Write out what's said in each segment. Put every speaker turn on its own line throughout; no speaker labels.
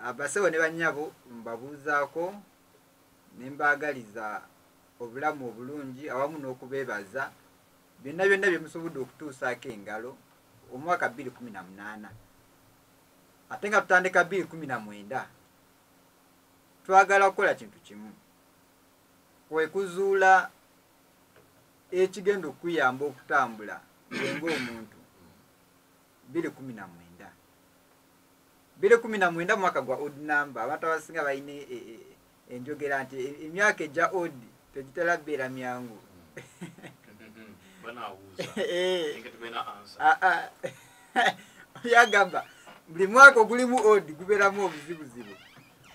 abasawo ne bannyabo mbabuuzaako ne mbaagaliza obulamu obulungi awamu n'okubeebaza byonna byonna bye musobodde okutuusaako engalo omwaka 218 ate nga tutandika 219 twagala kukola kintu kimu kwe kuzuula ekigenda okukuyamba okutambula ngenga omuntu 219 219 mwaka gwa odd number abantu abasinga balina e, e, e, enjogera nti emyaka egya odd tegitera beera myangu yagamba buli mwaka ogulimu odd gubeeramu obuzibuzibu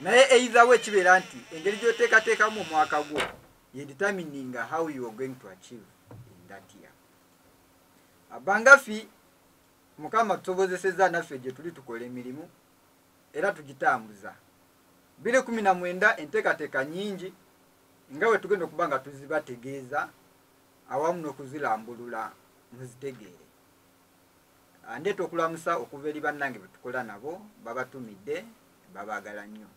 naye eitherwe kibeera nti engeri gyoteekateekamu omwaka gwo ye determining how you are going to achieve in that year abangafi mukama tusobozeseza naffe gyetuli tukola emirimu era tugitambuza 219 enteekateeka nyingi nga bwe tugenda okuba nga tuzibategeeza awamu n'okuzilambulula muzitegeere ah, ndeeta okulamusa okuva eri bannange bwe tukola nabo babatumidde babaagala nnyo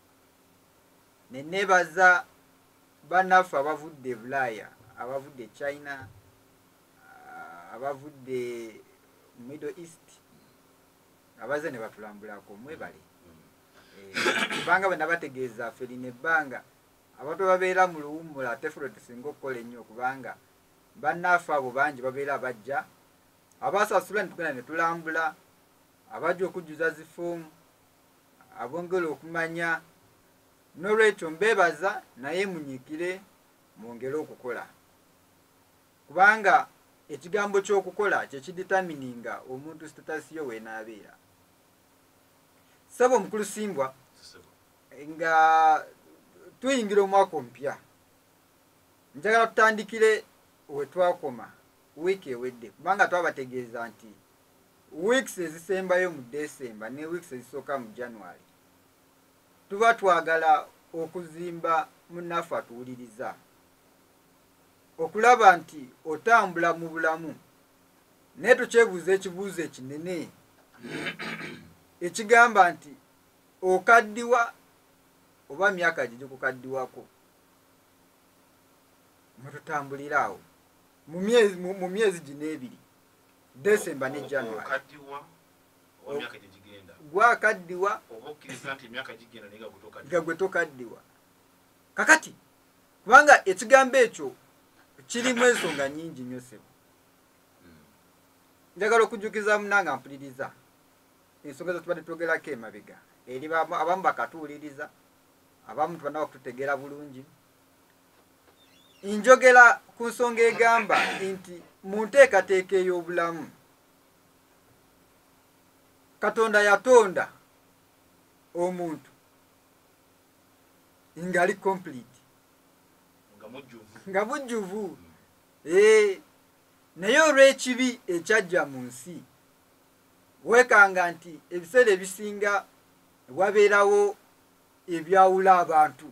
ne neebaza bannaffe abavudde e bulaaya abavudde e china abavudde middle east abaze ne batulambulako mwebale kubanga bwe nabategeeza ffe lino ebbanga abantu babeera mu luwummula ate ffe lwetusinga okukola ennyo kubanga bannaafe abo bangi babeera bajja abasasula netugenda netulambula abajja okujjuza zifoomu abongera okumanya n'olwekyo mbeebaza naye munyikire mwongere okukola Kubanga ekigambo ky'okukola kye kiditamininga omuntu sitatasi yo weenaabeera. Ssebo omukulu Simbwa nga tuyingira omwaka omupya njagala tutandikire we twakoma wiiki ewedde kubanga twabategeeza nti weeks ezisembayo mu December ne weeks ezisooka mu January tuba twagala okuzimba munaffe atuwuliriza. okulaba nti otambula mu bulamu naye tokyebuuza ekibuuzo ekinene ekigamba nti okaddiwa oba myaka gye gikukaddiwako mwetutambulira awo mu myezi gino ebiri desemba ne january gwakaddiwa nga gwe tokaddiwa kakati kubanga ekigambo ekyo kirimu ensonga nyingi nnyo sebo njagala okujjukiza munanga mpuliriza ensonga zetubadde twogerako emabega eri abamu bakatuwuliriza abamu tubanaba kututegeera bulungi njogera ku nsonga egamba nti mu nteekateeka ey'obulamu katonda yatonda omuntu ngali complete nga bujjuvu eh, naye olw'ekibi ekyajja mu nsi weekanga nti ebiseera ebisinga wabeerawo ebyawula abantu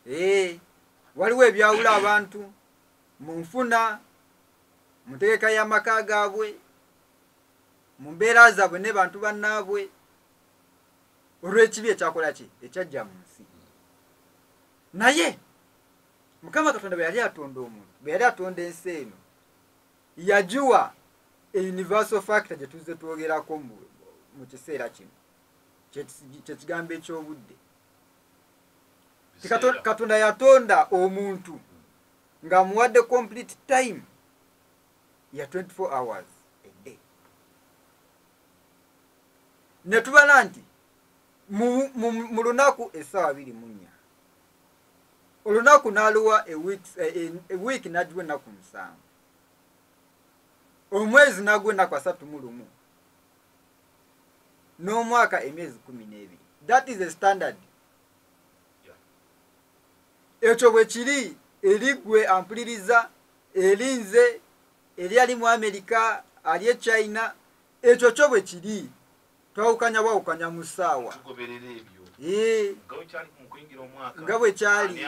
eh, waliwo ebyawula abantu mu nfuna mu ntegeka y'amaka gaabwe mu mbeera zaabwe ne bantu bannaabwe olw'ekibi ekyakola ki ekyajja mu nsi naye mukama katonda bwe yali atonda omuntu bwe yali atonda ensi eno yagiwa universal factor gye tuzze twogerako mu kiseera kino kyekigambo eky'obudde katonda yatonda omuntu ng'amuwadde complete time ya 24 hours ne tubala nti mu lunaku essaawa biri mu nnya olunaku n'aluwa ewiiki n'agiwa ennaku musanvu omwezi n'agwa ennaku asatu mu lumu n'omwaka emyezi kumi n'ebiri that is a standard ekyo bwe kiri eri gwe ampuliriza eri nze eri ali mu amerika ali e china ekyo kyo bwe kiri twawukanya bwawukanya mu ssaawa nga bwe kyali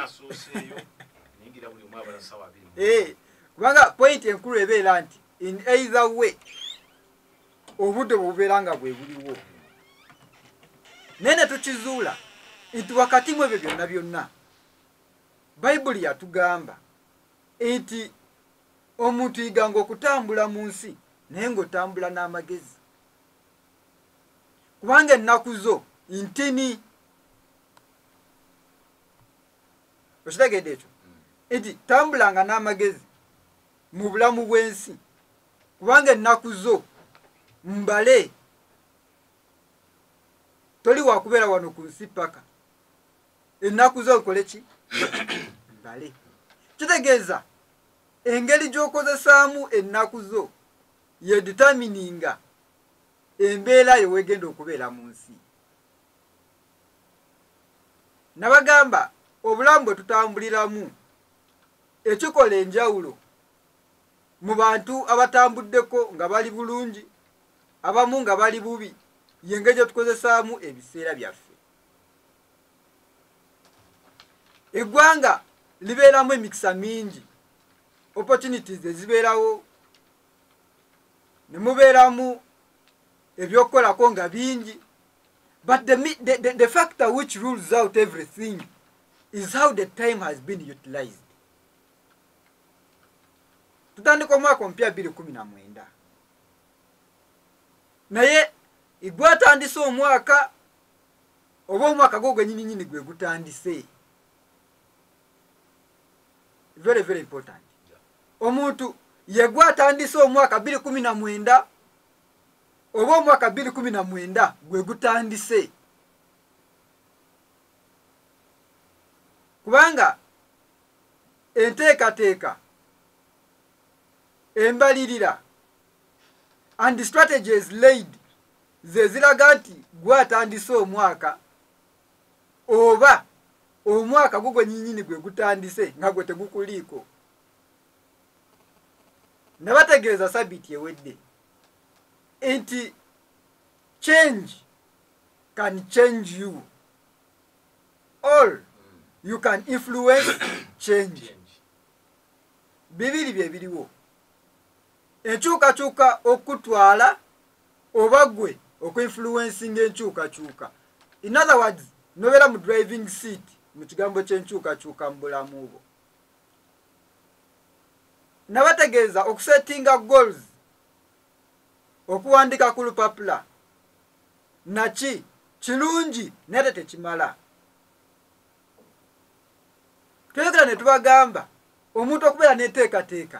kubanga pointi enkulu ebeera nti in either way obudde bwebubeera nga bwe buliwo naye ne tukizuula nti wakati mu ebyo byonna byonna bayibuli yatugamba nti omuntu yiganga okutambula mu nsi naye ng'otambula n'amagezi kubanga ennaku zo ntini okitegedde ekyo nti tambulanga n'amagezi mu bulamu bw'ensi kubanga ennaku zo mbale toli wakubeera wano ku nsi paka ennaku zo nkole ki mbale kitegeeza engeri gy'okozesaamu ennaku zo yeditamininga embeera yo wegenda okubeera mu nsi nabagamba obulamu bwe tutambuliramu ekikola enjawulo mu bantu abatambuddeko nga bali bulungi abamu nga bali bubi yengeri gyetukozesaamu ebiseera byaffe eggwanga libeeramu emikisa mingi opportunities ezibeerawo ne mubeeramu ebyokukolako nga bingi but the, the, the, the factor which rules out everything is how the time has been utilized tutandika omwaka omupya bbiri kumi na mwenda naye igwe atandise omwaka oba omwaka gwo gwenyininyini gwe gutandise very very important omuntu yegwe atandise omwaka biri kumi na mwenda oba omwaka biri kumi na mwenda gwe gutandise kubanga enteekateeka embalirira and the strategy is laid ze ziraga nti gwe atandise omwaka oba omwaka gugwe nyinyini gwe gutandise nga gwe tegukuliiko nabategeeza sabiti ewedde nti change can change you all you can influence change bibiri bye biriwo enkyukakyuka okukutwala oba gwe okuinfluencinga enkyukakyuka in other words nobeera mu driving seat mu kigambo kyenkyukakyuka mu bulamu bwo nabategeeza okusetinga goals okuwandika ku lupapula naki kirungi naye te tekimala tweyogera ne tubagamba omuntu okubeera n'enteekateeka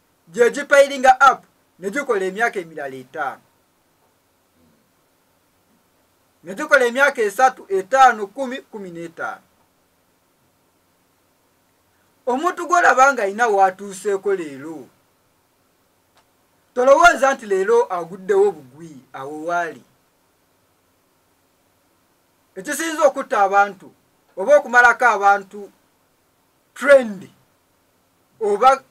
gye gipayiringa app ne gikola emyaka emirala etaano ne gikola emyaka esatu etaano kumi kumi n'etaano omuntu gwolaba nga alina waatuuseeko leero tolowooza nti leero aguddewo bugwi awo waali ekisinza okutta abantu oba okumalako abantu trend oba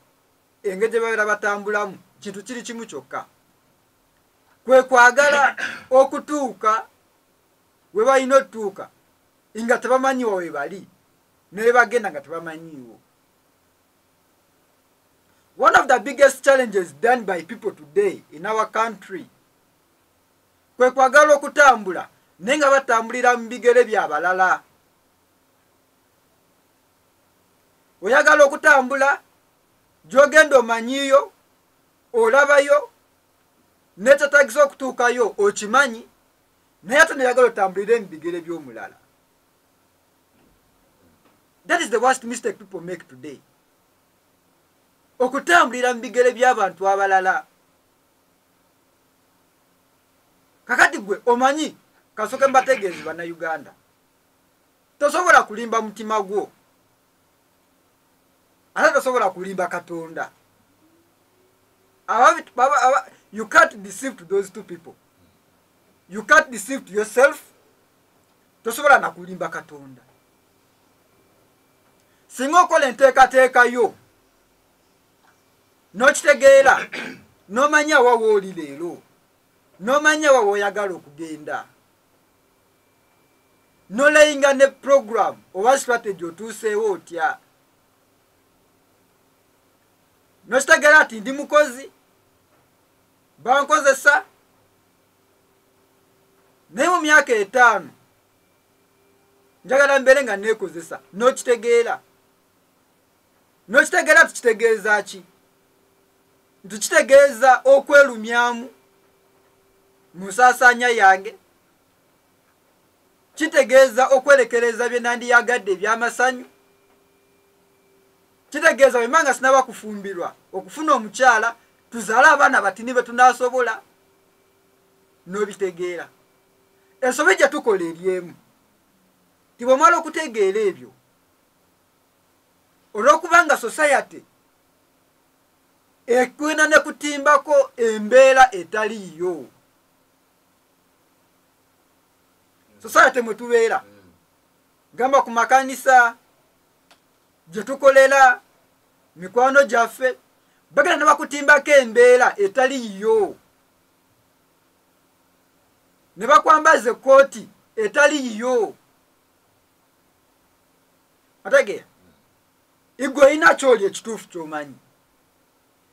engeri gye babeera batambulamu kintu kiri kimu kyokka kwe kwagala okutuuka we balina otutuuka nga tebamanyiwa we bali naye bagenda nga tebamanyiiwo one of the biggest challenges done by people today in our country kwe kwagala okutambula naye nga batambulira mu bigere byabalala oyagala okutambula gyogenda omanyiyo olabayo nekyetagisa okutuukayo okimanyi naye ate neyagala otambulire mu bigere by'omulala that is the worst mistake people make today okutambulira mu bigere by'abantu abalala kakati gwe omanyi kasoke mbategeezi bannayuganda tosobola kulimba mutima gwo ate tosobola kulimba katonda you can't deceive to those two people you can't deceive to yourself tosobola nakulimba katonda singa okola enteekateeka yo n'okitegeera n'omanya wa wooli leero n'omanya wa woyagala okugenda nolayinga ne program oba strategy otuuseewo otya nokitegera nti ndi mukozi bankozesa naye mu myaka etaano njagala mbeere nga neekozesa nokitegeera nokitegeera tukitegeeza ki nti kitegeeza okwelumyamu mu nsaasaanya yange kitegeeza okwerekereza bye nandiyagadde ebyamasanyu kitegeeza wemba nga sinaba kufumbirwa okufuna omukyala tuzaale abaana batini be tunasobola n'obitegeera ensobi gye tukola eri emu tibwemala okutegeera ebyo olwokubanga society ekwena nekutimbako embeera etaliyo society mwe tubeera gamba ku makanisa gye tukolera mikwano gyaffe bagenda ne bakutimbako embeera etali yiyo ne bakwambaza ekkooti etali yiyo otegeera igwe olina kyoli ekituufu kyomanyi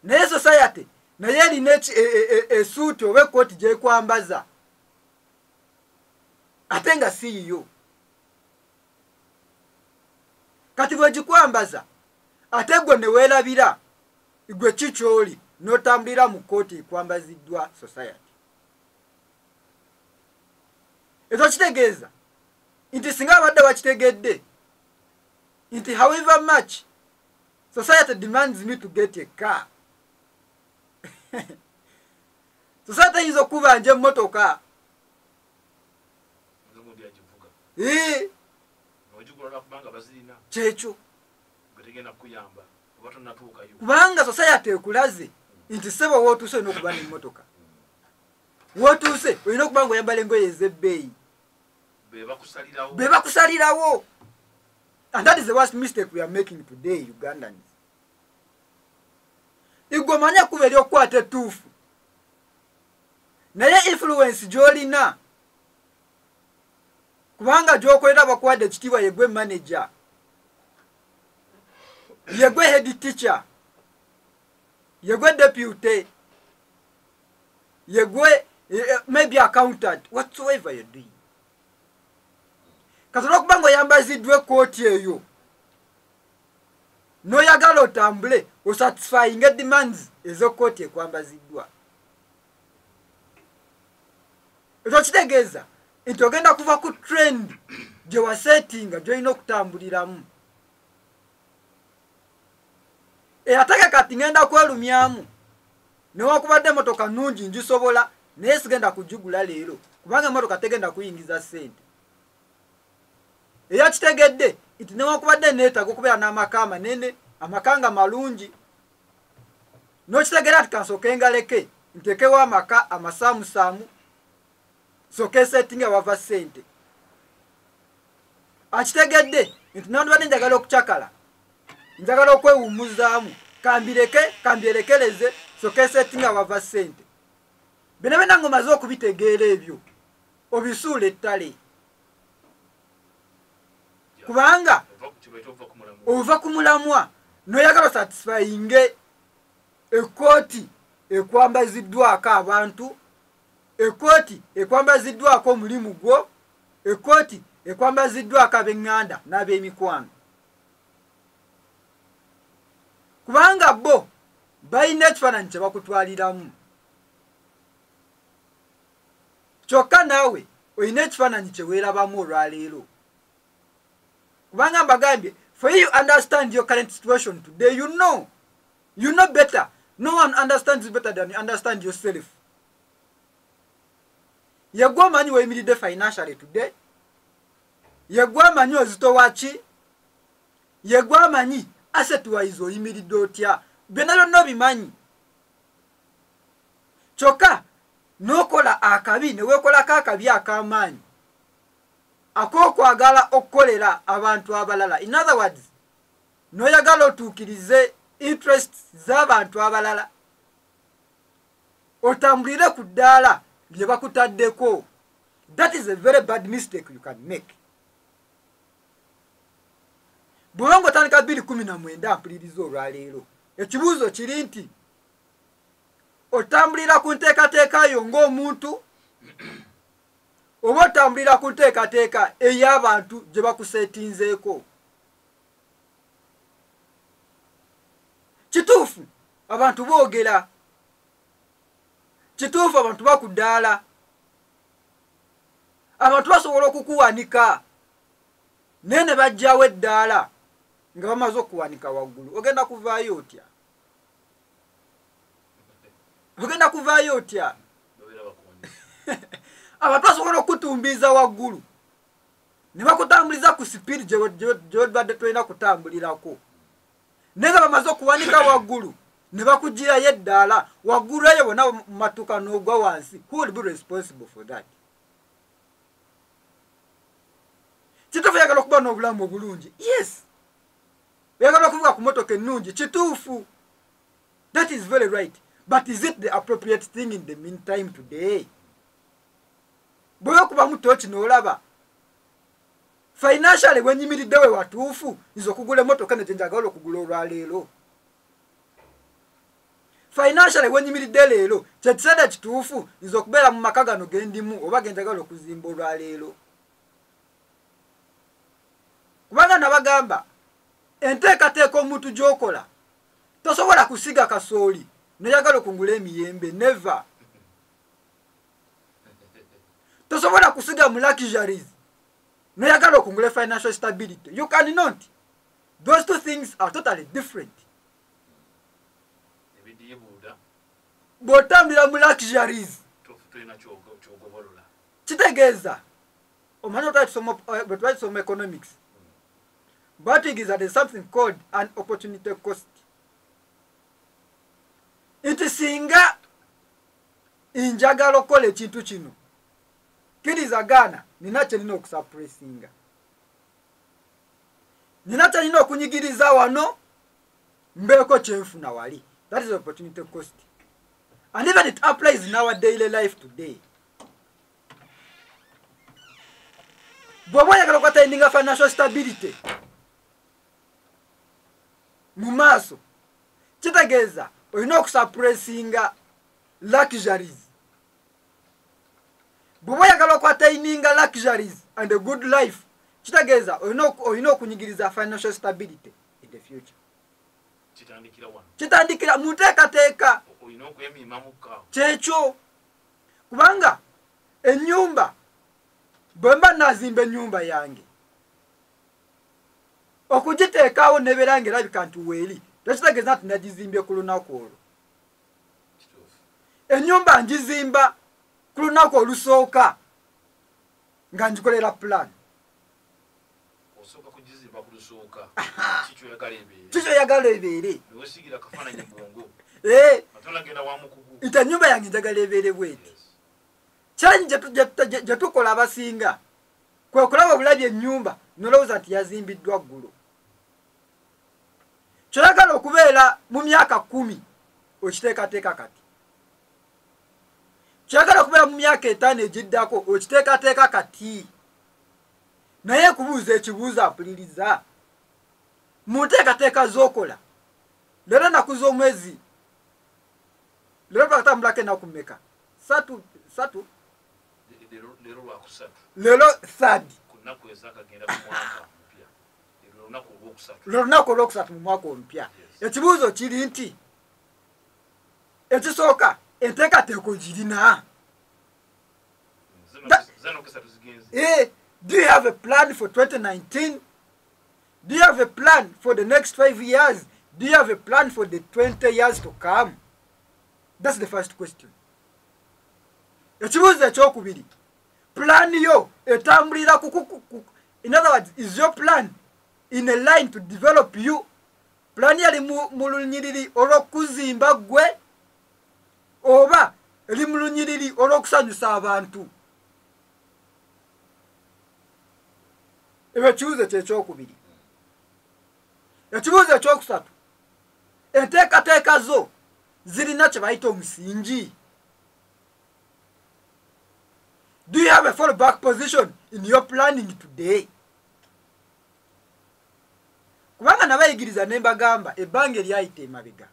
naye society naye erina e, e, e, esuuti oba ekkooti gyekwambaza ate nga si yiyo kati bwegikwambaza ate gwe neweerabira gwe ki kyoli n'otambulira mu kkooti ekwambaziddwa society ekyo kitegeeza nti singa abadde bakitegedde nti however much society demands me to get a car society eyinza okubanja emmotoka kyekyo kubanga society ekulaze nti sebo wotuuse olina okuba nemotoka wotuuse olina okuba nga oyambala engoye ezebbeeyi bebakusalirawo And that is the worst mistake we are making today, Ugandans. Igomanya kuba eri okukwata ettuufu naye influence gy'olina kubanga gyokolera bakwade ekitiibwa yegwe manager yegwe head teacher yegwe deputy yegwe eh, eh, maybe accountant whatsoever you're doing kati olwokuba nga oyambaziddwa ekkooti eyo noyagala otambule osatisfyinga demands ezekkooti ekwambaziddwa ekyo kitegeeza nti ogenda kuva ku trend gyewasetinga gyolina okutambuliramu eyatage kati ngenda kwelumyamu newakubadde emotoka nungi ngisobola naye sigenda kugigula leero kubanga emotoka tegenda kuyingiza sente eyakitegedde nti newakubadde neetaga okubeera n'amaka amanene amaka nga malungi nokitegera ti kansooke ngaleke ntekewo amaka amasaamusaamu soka esettinga wava sente akitegedde nti nandibadde njagala okucakala njagala okwewumuzaamu kambireke kambyerekereze soka esettinga wava sente bino byona nga omaze okubitegeera ebyo obisuula ettale kubanga ova ku mulamwa noyagala satisfyinge ekooti ekwambaziddwako abantu ekkooti ekwambaziddwako omulimu gwo ekkooti ekwambaziddwako ab'eŋŋanda n'ab'emikwano kubanga bo balina ekifaananyi kye bakutwaliramu kyokka naawe olina ekifaananyi kye weerabamu olwaleero kubanga mbagambye for you understand your current situation today you know you know better no one understands better than you understand yourself yegwe omanyi weyimiridde financially today yegwe amanyi ozito waki yegwe amanyi asset wise oyimiridde otya byonna byonna obimanyi kyokka n'okola akabi ne weekolako akabi ak'amaanyi ak'okwagala okukolera abantu abalala in other words noyagala otuukirize interest z'abantu abalala otambulire ku ddaala lye bakutaddeko that is a very bad mistake you can make bwoba nga otandika bbiri kumi na mwenda mpuliriza olwaleero ekibuuzo kiri nti otambulira ku nteekateeka yo ng'omuntu oba otambulira ku nteekateeka ey'abantu gye bakuseetinzeeko kituufu abantu boogera kituufu abantu bakuddaala abantu basobola okukuwanika naye ne bajjawo eddaala nga bamaze okuwanika waggulu ogenda kuvaayo otya ogenda kuvaayo otya abantu basobola okukutumbiiza waggulu ne bakutambuliza ku sipiidi gyebadde tolina kutambulirako naye nga bamaze okuwanika waggulu ne bakugirayo eddaala waggulu eyo bona mumatuka n'ogwa wansi who will be responsible for that kituufu oyagala okuba n'obulamu obulungi yes oyagala okuvuga ku motoka ennungi kituufu that is very right but is it the appropriate thing in the meantime today bwebakubamu toki nolaba financially wenyimiridde we watuufu nze okugula emotoka nejenjagala okugula olwaleero financially wenyimiridde leero kyekiseera ekituufu nze okubeera mu maka gano gendimu oba genjagala okuzimba olwaleero kubanga nabagamba enteekateeka omuntu gyokola tosobola kusiga kasooli noyagala okungula emiyembe neve tosobola kusiga mu luxuries noyagala okungula financial stability you can not those two things are totally different bwotambulira mu luxuries kitegeeza omanyi otwakisoma eh, economics batigiza the something called an opportunity cost nti singa njagala okukola ekintu kino kkiriza gaana nina kyerina okusapuresinga nina kyerina okunyigiriza wano mbeeko kyenfuna wali that is opportunity cost and even it applies in our daily life today bwoba oyagala okwataininga financial stability mu maaso kitegeeza olina okusapuresinga luxuries bweba oyagala okwataininga luxuries and a good life kitegeeza olina okunyigiriza financial stability in the future kitandikira mu nteekateeka kyekyo kubanga enyumba bwemba nazimba enyumba yange okugiteekaawo nebeera nga erabika nti weeri tekitegeeza nti nagizimbye ku lunaku olwo enyumba ngizimba ku lunaku olusooka nga ngikolera pulaani kikyoyagala ebeere eh, nti enyumba yange njagala ebeere bweti kyanyi gyetukola abasinga kwe kulaba obulabi ennyumba nolowooza nti yazimbiddwa ggulo kyoyagala okubeera mu myaka kumi okiteekateeka kati kyoyagala okubeera mu myaka etaano egiddako okiteekateeka kati naye kubuuza ekibuuzo apuliriza mu nteekateeka z'okola leero enaku z'omwezi leero twakatambulako enaku meka satu satu lero third lwelunaku olwokusatu mu mwaka omupya ekibuuzo kiri nti ekisooka enteekateeko girina eh, do you have a plan for 2019 do you have a plan for the next five years do you have a plan for the 20 years to come that's the first question ekibuuzo ekyokubiri pulaani yo etambulira in other words is your plan in a line to develop you pulaani yali mu lunyiriri olw'okuzimba ggwe oba eri mu lunyiriri olw'okusanyusa abantu ebyo ekibuuzo kyekyokubiri ekibuuzo ekyokusatu enteekateeka zo zirina kye bayita omusingi do you have a fall back position in your planning today kubanga nabayigiriza ne mbagamba ebbanga eryayita emabega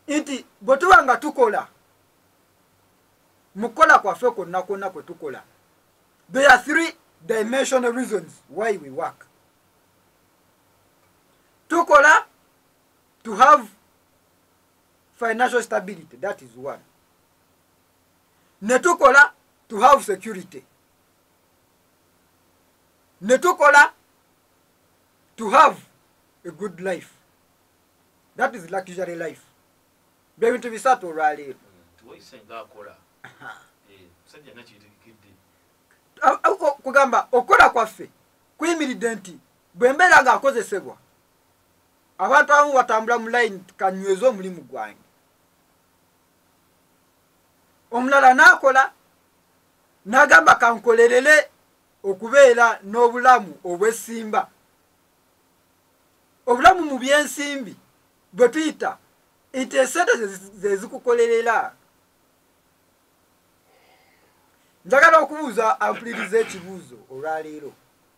nti bwe tuba nga tukola mu kukola kwaffe kwonna kwonna kwe tukola there are three dimensional reasons why we work tukola to have financial stability that is one netukola to have security netukola to have a good life that is luxury life byebintu bisatu olwaleero kugamba okukola kwaffe kuyimiridde nti bwe mbeera ng'akozesebwa abantu abamu batambula mu layini kanyweza omulimu gwange omulala n'akola n'agamba kankolerere okubeera n'obulamu obwesimba obulamu mu byensimbi bwe tuyita nti esente zezikukolerera njagala okubuuza ampuliriza ekibuuzo olwaleero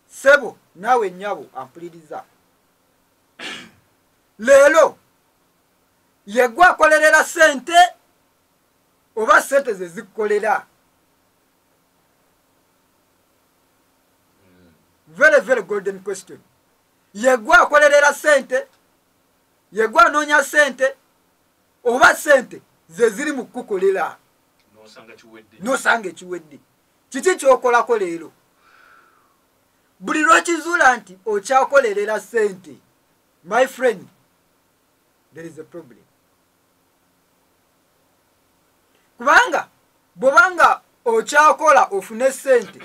sebo naawe nyabo ampuliriza leero yegwe akolerera sente oba sente ze zikolera very very golden question yegwe akolerera sente yegwe anoonya sente oba sente zeziri mu kukukolera nosanga ekiwedde kiki kyokolako leero buli lwokizuula nti okyakolerera sente my friend there is a problem kubanga bwobanga okyakola ofune sente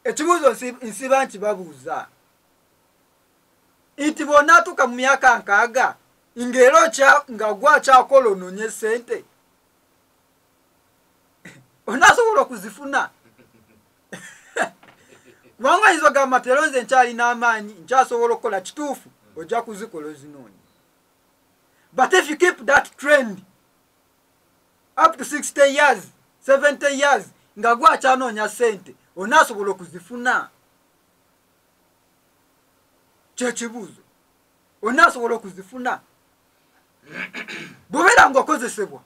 ekibuuzo nsiba nti babuuza nti bw'onaatuuka mu myaka nkaaga ng'era nga gwe akyakola onoonye ssente onaasobola okuzifuna kubanga oyinza ogamba tero nze nkyalina amaanyi nkyasobola okukola kituufu ojja kuzikola ozinoonya but if you keep that trend up to 60 years 70 years nga gwe akyanoonya ssente onaasobola okuzifuna kyekibuuzo ona asobola okuzifuna bwobeera nga okozesebwa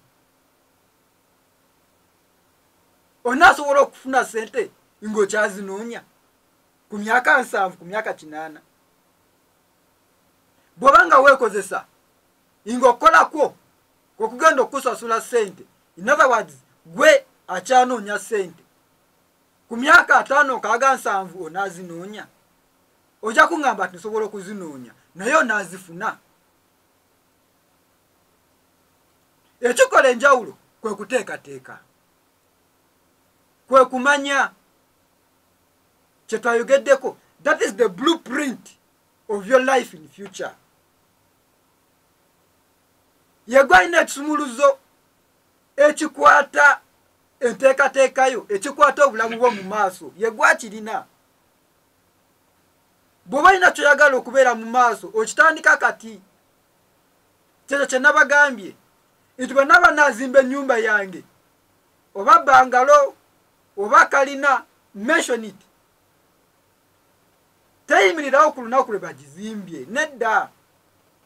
ona asobola okufuna sente ngaokyazinoonya ku myaka nsanvu ku myaka kinaana bwoba nga weekozesa nga okukolakwo kwokugenda okukusasula sente in other words gwe akyanoonya sente ku myaka ataano nkaaga nsanvu onaazinoonya ojja kuŋŋamba nti nsobola okuzinoonya naye onaazifuna ekikola enjawulo kwe kuteekateeka kwe kumanya kye twayogeddeko that is the blue print of your life in future yegwe alina ekisumuluzo ekikwata enteekateekayo ekikwata obulamu bwo mu maaso yegwakirina bw'oba olina kyoyagala okubeera mu maaso okitandika kati kyekyo kye nabagambye nti bwe naba nazimba ennyumba yange oba bangalo oba kalina mention it teyimirirawo ku lunaku lwe bagizimbye nedda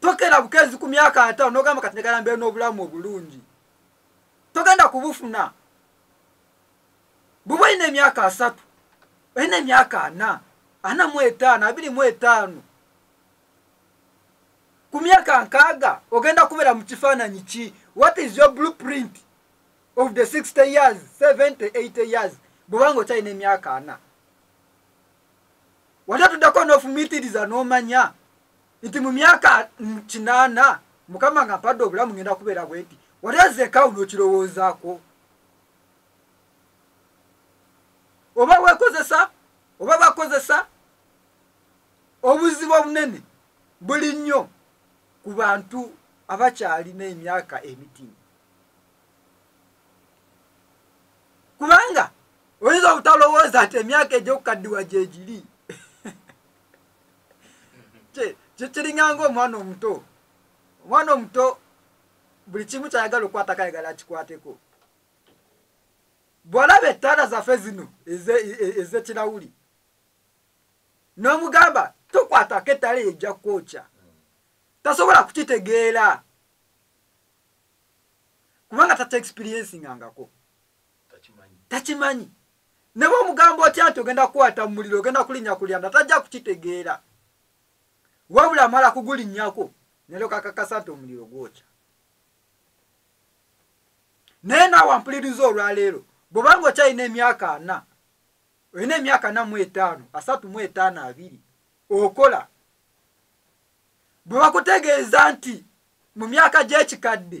tokera bukezi ku myaka ataano nogamba kati negala mbeera n'obulamu obulungi togenda kubufuna buba olina emyaka asatu olina emyaka ana ana mu etaano abiri mu etaano ku myaka nkaaga ogenda kubeera mu kifaananyi ki what is your blue print of the 60 years 70 80 years bwobanga okyalina emyaka ana wali otuddeko n'ofumiitiriza n'omanya no nti mu myaka kinaana mukama nga mpadde obulamu ngenda kubeera bwenti watezeekawo nokirowoozaako oba wekozesa oba bakozesa obuzibu obunene buli nnyo ku bantu abakyalina emyaka emitimu kubanga oyinza obutalowooza nti emyaka egyokukaddiwa gyegiri kiringanga omwana omuto omwana omuto buli kimu kyayagala okukwatako ayagala akikwateko bwolaba ettaala zaffe zino ezekirawuli e, e, n'omugamba tokwatako ettaala eyo ejja kwokya tasobola kukitegeera kubanga tata experiencinga ngako takimanyi ne bwomugamba otya nti ogenda kukwata mu muliro ogenda kulinnya kulyanda tajja kukitegeera wabula amala kugulinnyako nero kakakasa nti omuliro gwokya naye naawe ampuliriza olwaleero bwobanga okyalina emyaka ana olina emyaka ana mu etaano asatu mu etaano abiri okola bwe bakutegeeza nti mu myaka gy'ekikadde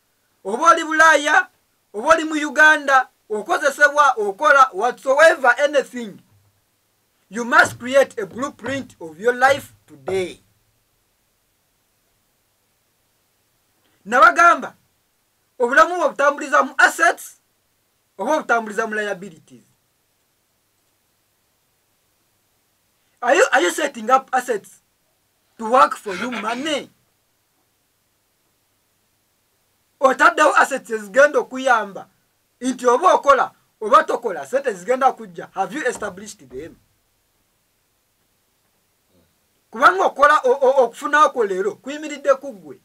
oba oli bulaaya oba oli mu uganda okozesebwa okola whatsoever anything you must create a blueprint of your life today nabagamba obulamu bwe butambuliza mu assets oba obutambuliza mu liabilities are you, are you setting up assets to work for you money otaddewo assets ezigenda okuyamba nti oba okola oba tokola sente zigenda kujja have you established them kubanga okola okufunako leero kuyimiridde ku ggwe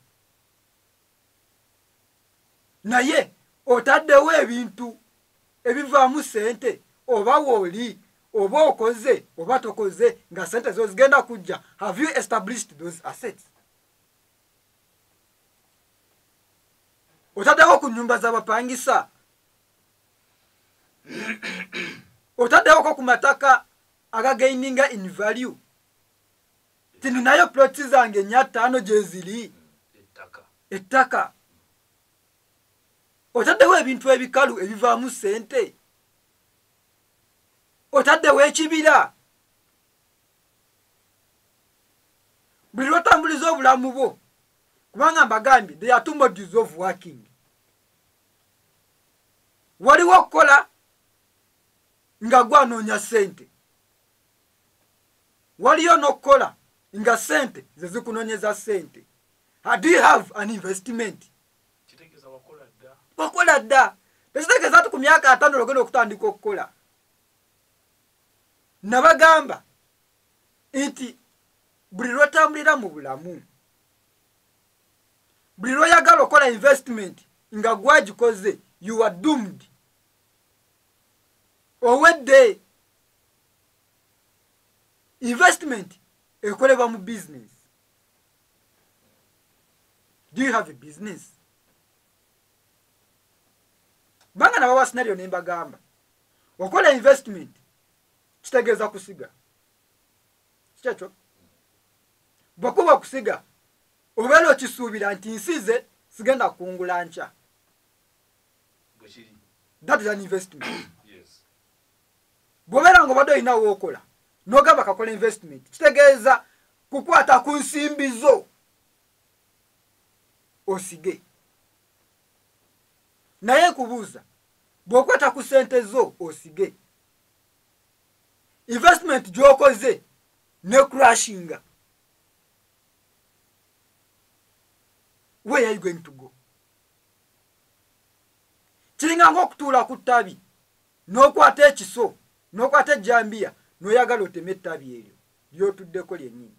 naye otaddewo ebintu ebivaamu sente oba wooli oba okoze oba tokoze nga sente zo zigenda kujja have you established those assets otaddeko ku nyumba z'abapangisa otaddeko ku mataka agagaininga in value tininayo ploti zange nya ttaano gyeziri ettaka otaddewo ebintu ebikalu ebivaamu ssente otaddewo ekibira buli lwotambuliza obulamu bwo kubanga mbagambye they are two modules of working waliwo okukola nga gwanoonya sente waliyo n'okukola nga sente ze zikunonyeza sente do you have an investment wakola dda tekitegeeza ti ku myaka atano logenda okutandika okukola nabagamba nti buli lwotambulira mu bulamu buli lwoyagala okola investment nga gwagikoze you are doomed owedde investment ekolebwa mu business do you have a business banga nabawa scenario nembagamba okola investment kitegeeza kusiga kikyekyo bwekuba okusiga obeera okisuubira nti nsize sigenda kungula nkya that is an investment bwobeera nga obadde olina wookola nogamba kakola investment kitegeeza kukwata ku nsimbi zo osige naye nkubuuza bw'okwata ku ssente zo osige investment gy'okoze ne crashinga where are you going to go kiringa ngaokutuula ku ttabi n'okwata ekiso n'okwata ejjambiya n'oyagala otema ettabi eryo lyotuddeko lyennyini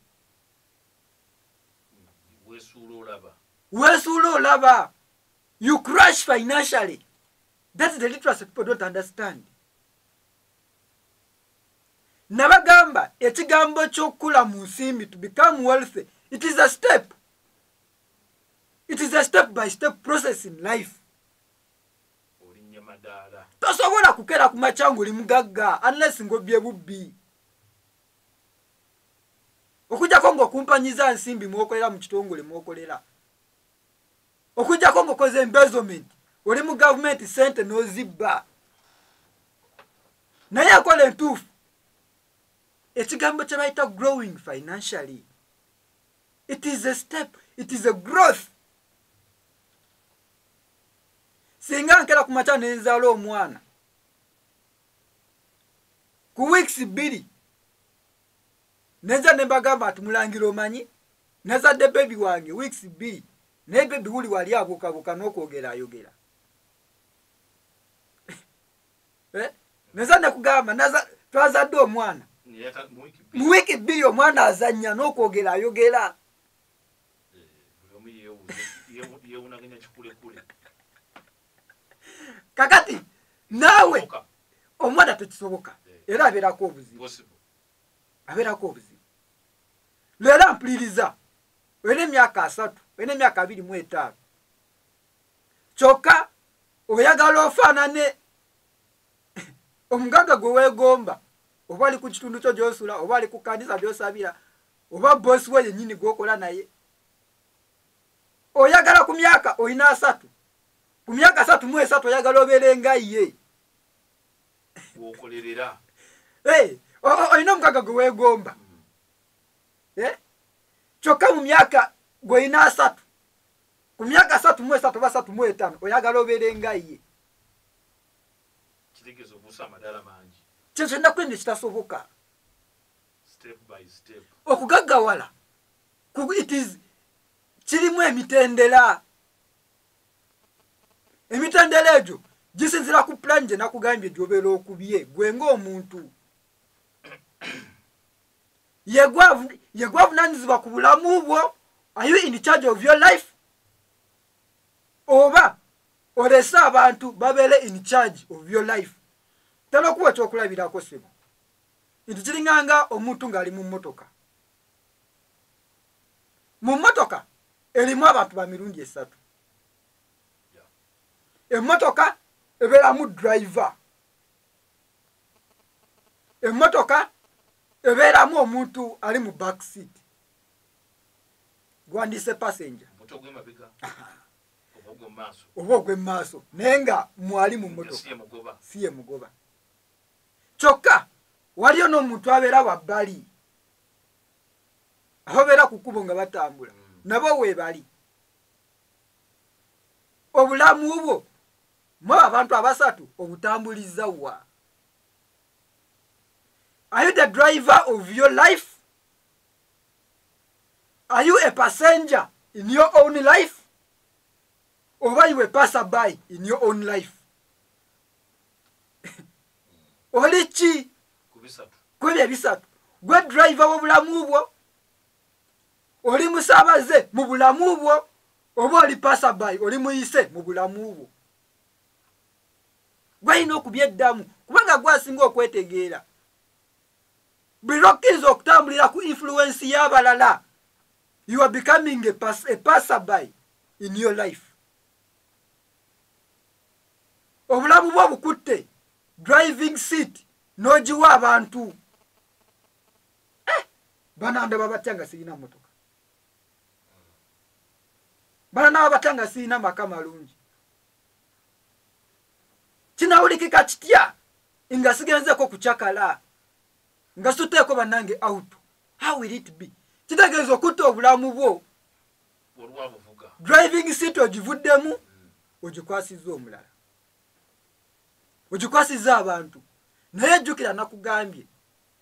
wesuula olaba you crash financially thats the literacy people don't understand nabagamba ekigambo kyokukula mu nsimbi to become wealthy it is a step it is a step by step process in life tosobola kukera ku makya ngaoli mugagga unless ngobye bubbi okujjako ngaokumpanyiza nsimbi mwokolera mu kitongole mwokolera okujjako ngaokoze embezoment oli mu gavumenti sente nozibba naye akola entuufu ekigambo kye bayita growing financially it is a step it is a growth singa nkera ku makya nenzaala omwana ku weeks bbiri neza nembagamba ati mulangira omanyi nazadde bebi wange weeks bbiri naye bebi wuli wali abukabuka n'okwogera ayogera eh? neza nekugamba twazadde omwana mu wiiki bbiri omwana azannya n'okwogera ayogera eh, kakati naawe omwana tekisoboka eh. era abeerako obuzibu abeerako obuzibu leero ampuliriza olina emyaka asatu olina emyaka abiri mu etaano kyokka oyagala ofaanane omugagga gwe weegomba oba ali ku kitundu kyo gyosula oba ali ku kanisa gyosabira oba bosi we yennyini gwokola naye oyagala ku myaka olina asatu ku myaka asatu mu esatu oyagala obeere nga ye wokolerera
eh,
olina omukaga gwe weegomba mm. eh? kyokka mu myaka gwolina asatu ku myaka asatu mu esatu oba asatu mu etaano oyagala obeere nga ye
kitegeeza obuusa amadala mangi kyezo ennaku eno
kitasoboka
okugaggawala
kirimu emitendera emitendera egyo gisinzira ku pulani gye nakugambye gyobeera okubye gwe ngaomuntu yegwavunanyizibwa ku bulamu bwo are you in charge of your life oba olese abantu babeere in charge of your life tanokuwa ekyokulabirako sebo nti kiringanga omuntu ng'ali mu mmotoka mu mmotoka erimu abantu ba mirundi esatu emmotoka ebeeramu driver emmotoka ebeeramu omuntu ali mu back seat gwandiise passenger oba ogw'emumaaso naye nga mwali mu mmotoka si ye mugoba kyokka waliyo n'omuntu abeera wabbali ababeera ku kkubo nga batambula mm. nabo weebali obulamu bwo mwaba abantu abasatu obutambuliza wa are you the driver of your life are you a passenger in your own life oba you a passer by in your own life oli ki kwebyo ebisatu gwe driver wobulamu bwo oli musabaze mu bulamu bwo oba oli pasaby oli muyise mu bulamu bwo gwalina okubyeddamu kubanga gwasinga okwetegeera buli lwokkiriza okutambulira ku influensi y'abalala you are becoming a, pass, a passerby in your life obulamu bwo bukutte driving seat n'ogiwa abantu eh, banandaba batya nga sirina motoka banandaba batya nga sirina maka malungi kinawulikika kitya nga sigenzeeko kucakala nga suteeko bannange auto how will it be kitegeeza okutta obulamu bwo driving seat ogivuddemu mm. ogikwasizza omulala ogikwasizza abantu naye jjukira nakugambye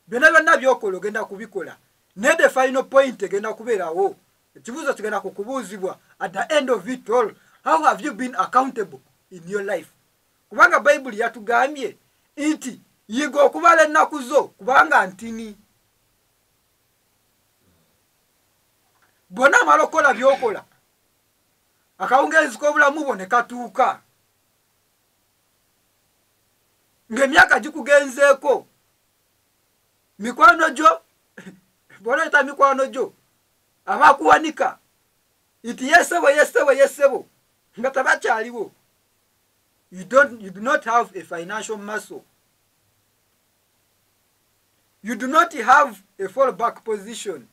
byonna byonna byokola ogenda kubikola naye the final point egenda kubeerawo ekibuuzo kigenda kukubuuzibwa at the end of it all how have you been accountable in your life kubanga bayibuli yatugambye nti yiga okubala ennaku zo kubanga ntini bwona amala okukola byokola akawungeezi k'obulamu bwo ne katuuka ng'emyaka gikugenzeeko mikwano gyo bwonayita mikwano gyo abakuwanika nti yesebo yesebo yesebo nga tabakyaliwo you, don't, you do not have a financial muscle you do not have a fall back position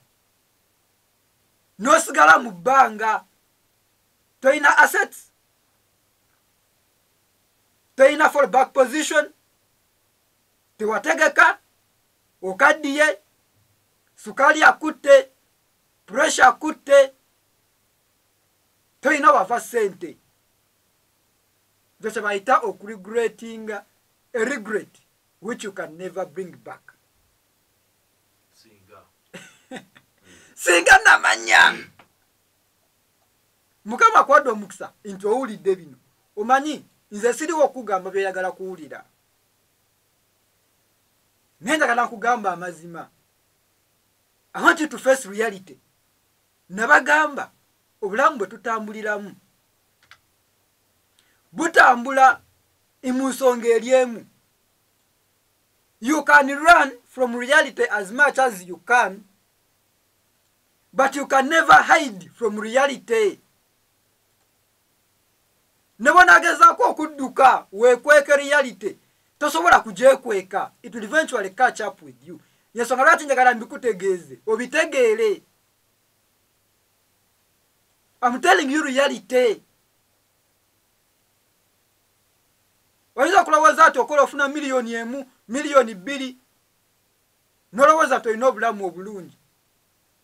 nosigala mu bbanga toyina assets toyina fall back position tewategeka okaddiye sukaali akutte pressure akutte toyina wava sente ekyo kyebayita okuregretinga a regret which you can never bring back singa namanya mukama kwadde omukisa nti owulidde bino omanyi nze siriwo okugamba byoyagala kuwulira naye njagala nkugamba amazima i want you to face reality nabagamba obulamu bwe tutambuliramu butambula mu nsonga eri emu you can run from reality as much as you can but you can never hide from reality ne bwonagezaako okudduka wekweke reality tosobola kugyekweka it will eventually catch up with you yensonga lwaki njagala mbikutegeeze obitegeere I'm telling you reality. oyinza kulowooza nti okola ofuna miliyoni emu miliyoni bbiri nolowooza nti olina obulamu obulungi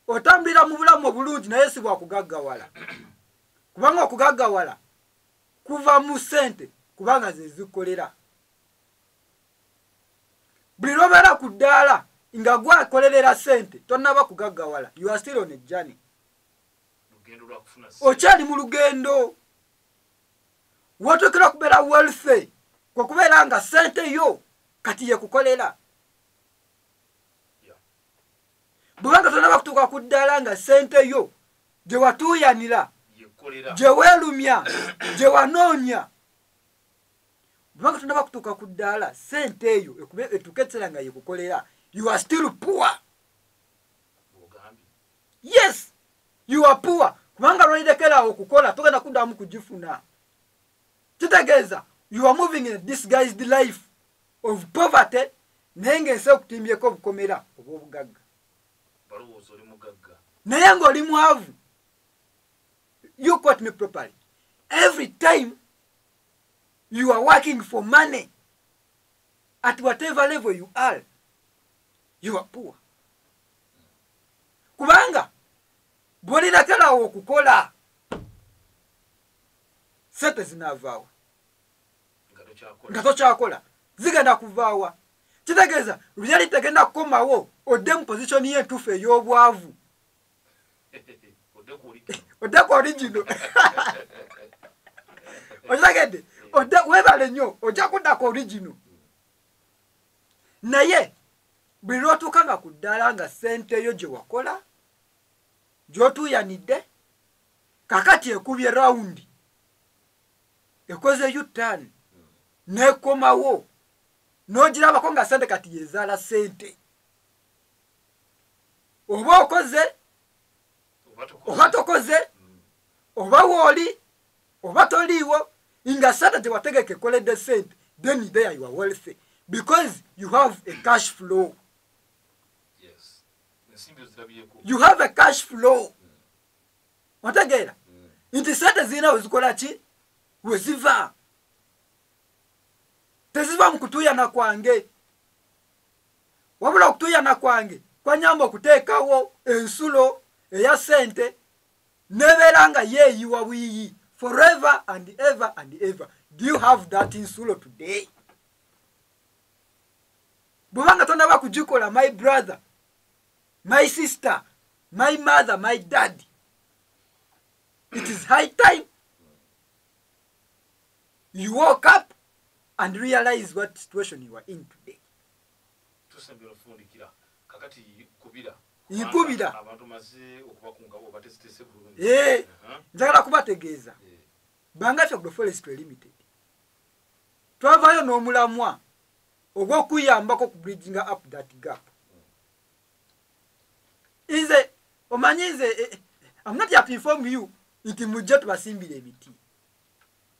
otambulira mu bulamu obulungi naye si bwakugaggawala kubanga okugaggawala kuva mu ssente kubanga zezikkolera buli lwobeera ku ddaala nga gwakolerera sente tonaba kugaggawala you are still on a journey okyali mu lugendo wotuukira okubeera wealthy kwekubeera nga sente yo kati yekukolera bwebanga tonaba kutuuka ku ddaala nga sente yo gyewatuuyanira gyeweelumya gyewanoonya bwebanga tonaba kutuuka ku ddaala sente eyo ekube etuuka ekiseera nga yekukolera you are still poor yes you are poor kubanga lwairekeraawo okukola togenda kuddamu kugifuna kitegeeza you are moving in a disguised life of poverty naye ngaensi ekutimbyeko obukomera obwobugagga naye ngaoli mwavu you quote me properly every time you are working for money at whatever level you are you are poor kubanga bwolinaterawo okukola sente zinavaawa nga tokyakola zigenda kuvaawa kitegeeza reality egenda kukomawo odde mu position yentuufu ey'obwavu odde ku origino okitegedde odde webale nnyo ojja kudda ku origino naye buli lwotuuka nga ku ddaala nga sente yo gye wakola gyotuuyanidde kakati ekubye rawundi ekoze utan nekomawo nogirabako nga sente kati yezaala sente oba okoze oba tokoze mm. oba wooli oba toliiwo nga sente gyewategeka ekoledde sente then there you are wealthy because you have a cash flow you have a cash flow mm. otegeera mm. nti sente zirina wezikola ki weziva teziva mu kutuuyana kwange wabula okutuyana kwange kwanyamba okuteekawo ensulo eya sente nebeera nga yeeyiwa buyiyi forever and ever and ever do you have that insulo today bweba nga tonaba kugikola my brother my sister my mother my dad it is high time you woke up and realize what situation you are in today tusembera ofundikira kakati kubira nkubira eh, uh-huh. njagala kubategeeza eh. banga fya groforest limited twavaayo n'omulamwa ogw'okuyambako ku bridginga up that gap nze omanyi nze eh, amnot yapifomu you nti mujja tubasimbira emiti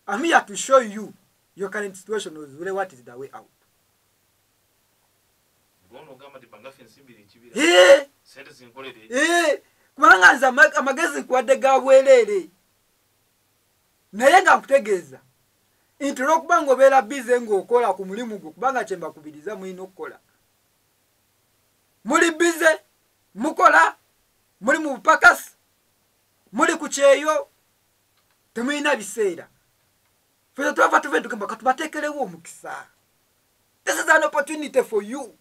I'm here to show you your current situation is really what is the way out. Eh! Eh! kubanga nze amagezi nkuwadde ga bwereere naye nga nkutegeeza nti olwokuba nga obeera bize ng'okola ku mulimu gwo kubanga kyembakubiriza mulina okukola muli bize mukola muli mu bupakasi muli ku kyeyo temulina biseera feza twava tuve tugamba katubateekerewo omukisa this is an opportunity for you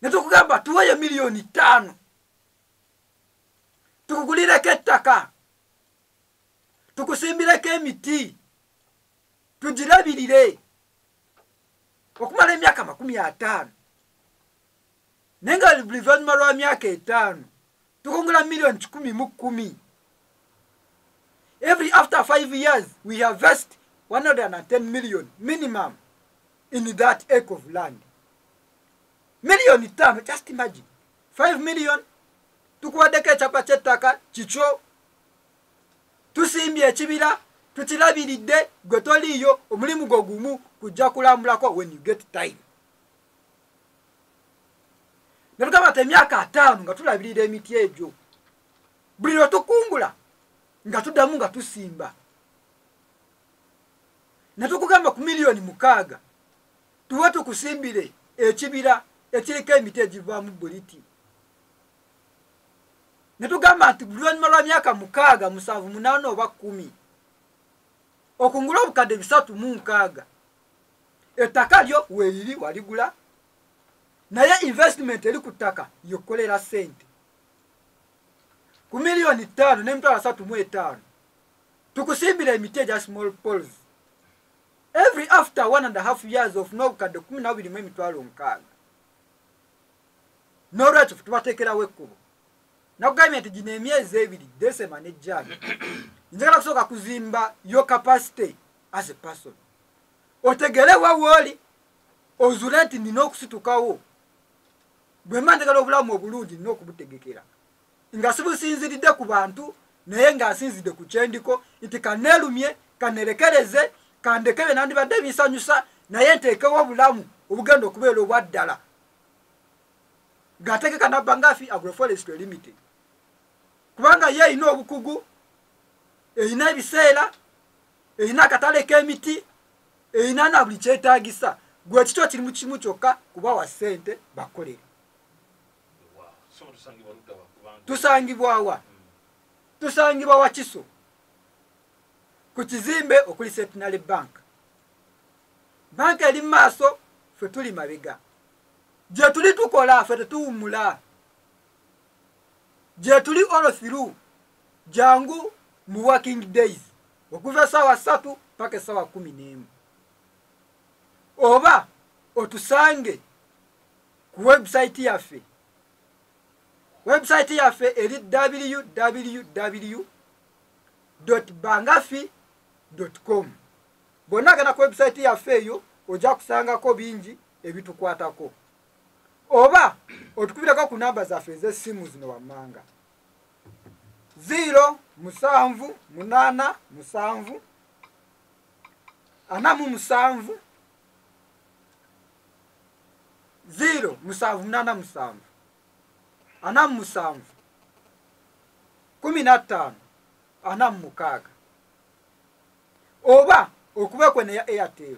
ne tukugamba tuweeyo miliyoni ttaano tukugulireko ettaka tukusimbireko emiti tugirabirire okumala emyaka makumi ataano naye nga luvannyuma lwa myaka etaano tukongola million kikumi mu kkumi every after five years we harvest 110 million minimum in that acre of land million tano just imagine 5 million tukuwaddeko ekyapa kyettaka kikyo tusimbye ekibira tukilabiridde gwe toliiyo omulimu gwo gumu kujja kulambulako when you get time nebugamba nti emyaka ataano nga tulabirira emiti egyo buli lwe tukungula nga tuddamu nga tusimba ne tukugamba ku miliyoni mukaaga tuba tukusimbire ekibira ekiriko emiti egivaamu buliti ne tugamba nti luvannyuma lwa myaka mukaaga musanvu munaana oba kkumi okungula obukadde bisatu mu nkaaga ettaka lyo weeriri waligula naye investment eri ku ttaka yokukolera sente ku miliyoni ttaano n'emitwalo asatu mu etaano tukusimbira emiti egya small pols every after one and a half years of n'obukadde kumi nabiri mu emitwalo nkaaga n'olwekyo tubateekerawo ekkubo nakugambye nti gino emyezi ebiri desema ne jani njagala kusooka kuzimba yo capacity as a person otegere wawooli ozule nti nina okusitukawo bwemba njagala obulamu obulungi nina okubutegekera nga sibusinziridde ku bantu naye nga nsinzidde ku kyendiko nti kaneerumye kanerekereze kandekebe nandibadde binsanyusa naye nteekewo obulamu obugenda okubeera obwaddala ng'ategeka nabba ngaafi agroforest limited kubanga ye erina obukugu erina ebiseera erina akatale k'emiti erina na buli kyetaagisa gwe kikyo kiri mu kimu kyokka kubawa ssente bakolere tusangibwawa tusangibwa wakiso ku kizimbe okuli setinale bank banka eri mu maaso ffe tuli mabega gye tuli tukola ffe tetuwumula gyetuli all through jangu mu working days okuva esawa satu paka esawa kumi nemu oba otusange ku website yaffe website yaffe eri www bangafi com bonna agana ku website yaffe eyo ojja kusangako bingi ebitukwatako oba otukubirako ku namba zaffe ez'essimu zino wammanga ziiro musanvu munaana musanvu ana mu musanvu ziiro musanvu munaana musanvu ana mu musanvu kumi na ttaano ana mu mukaaga oba okubekwe neya airtel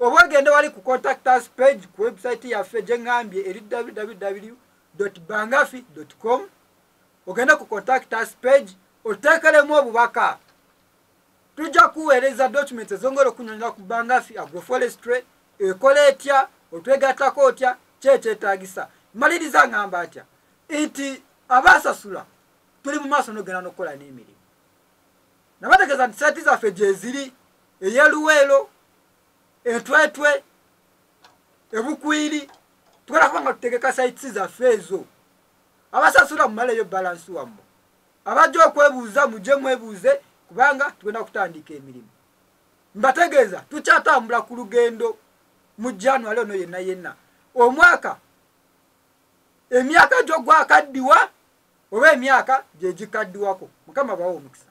oba ogende wali ku contact us page ku website yaffe gyengambye eri www bangafi com ogende ku contact us page oteekelemu obubaka tujja kuweereza document ezongera okunyonyola ku bangafi agroforestry ekola etya otwegattako otya kyekyetagisa maliriza ngamba atya nti abasasula tuli mu maaso nogenda nokukola n'emirimu nabategeeza nti saati zaffe gyeziri eyeluweero entwetwe ebukwiri tugenda kuba nga tutegeka saitisi zaffe ezo abasasula mumaleyo balansi wammwe abajja okwebuuza mujje mwebuuze kubanga tugenda kutandika emirimu mbategeeza tukyatambula ku lugendo mu january ono yenna yenna omwaka emyaka gyogwakaddiwa oba emyaka gyegikaddiwako mukama bawa omukisa